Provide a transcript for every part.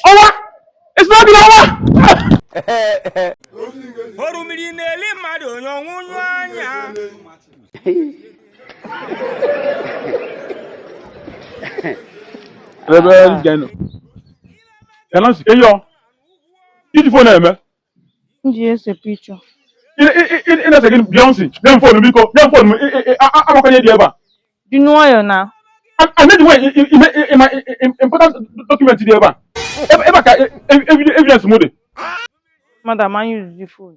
ọwa ezigbo obi ọwa orimiri na-eli mmadụ onye ọnwụnyụ anya Reverend Geno. Elansi, eyo. Ị ji phone eme. m ji ese picture ị na-ese gịnị Beyonce nye m phone biko nye m phone m agbakwanye dị ebe a dị nwayọọ na anyị dị nwayọ ime ị ma important document dị ebe a ebe a ka evidence m dị madam anyị rụzi phone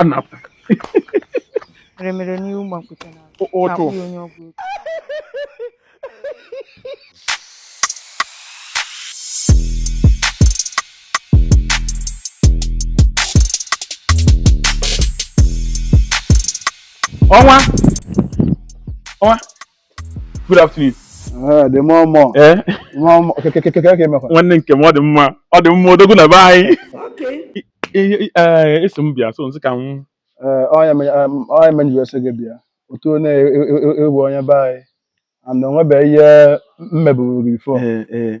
a na-apụ meremere n'ihu mgbakpụta na ụtụ akpụghị onye ọgwụ ego ọnwa ọnwa good afternoon Eh, the more more eh more more okay okay okay okay mekwa nwanne nke m ọ dị mma ọ dị mma odogwu na be anyị I- i- eh, ị sị m bịa so m sị ka m Eh, ihe me- em, ihe me m ji wee sị gị bịa otu na e- e- e- ị bụ onye be anyị and onwebeghị ihe m meburu gị before eh, eh,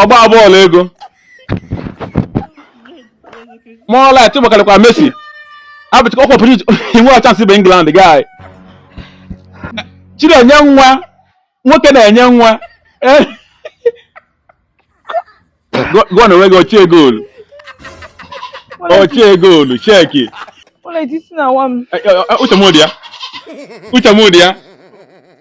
ọgba bọọlụ ego more light ọ gbakarịkwa Messi abụchịkwa ọkwa pụrụ inwe chance bụ England guy chiri enye nwa nwoke na-enye nwa gụọ na onwe gị ochie goolu ochie goolu cheki uche m dị ya uche m dị ya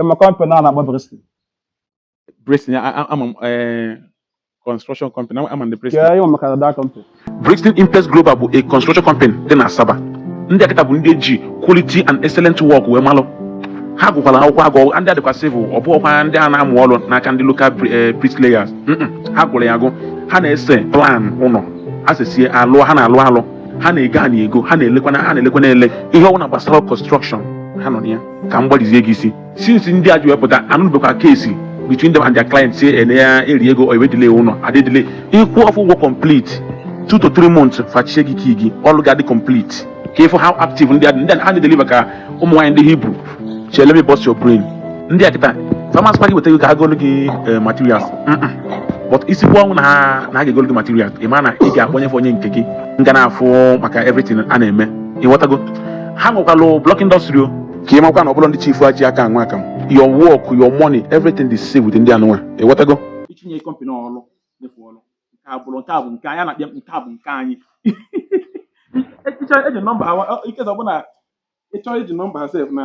Ị ma company a na-akpọ Bristol. Bristol, ama m eh, construction company, ama ndị Bristol. Kee ị ma maka that company. Bristol Impex Global bụ a construction company dị na Asaba. Ndị a kịta bụ ndị e ji quality and excellent work wee malụ. Ha gụkwara akwụkwọ agụ ndị a dịkwa civil ọ bụghịkwa ndị a na-amụ ọrụ n'aka ndị local bri- eh, bricklayers. Mm-mm. Ha gụrụ ya agụ. Ha na-ese plan ụlọ. Ha sesie alụ ha na-alụ alụ. Ha na-ego ana ego. Ha na-elekwa ana ha na-elekwa ana ele. Ihe ọbụla gbasara construction ha nọ na ya. ka m gbalizie gị isi since ndị a ji wee pụta a nụbekwa case between them and their client say ene ya eri ego or e wee delay ụlọ adị edelay ị kwụọ fa ụgwọ complete two to three months fa chinye gị key gị ọrụ ga-adị complete ka ị fụ how active ndị a dị ndị a na-edeliver ka ụmụ nwaanyị ndị Hebrew chee let me bust your brain ndị a kịta farmers party weta gị ka ha golu gị eh, materials Mm-mm. but ị sikwuo ọnwụ na ha na ha ga-egolu gị materials ị ma na ị ga-akpọnye fa onye nke gị nga na-afụ maka everything a na-eme ị ghọtago ha nwekwalụ block industry o ka ị makwa na ọbụla ndị chifu a ji aka anwa aka m your work your money everything dị safe with ndị anụnwa ị ghọtago ị tinye company ọrụ nye fa ọrụ nke a bụrụ nke a bụ nke anyị na-akpịa nke a bụ nke anyị ị chọọ iji number ha in case ọ bụlụ ị chọọ iji number ha sef na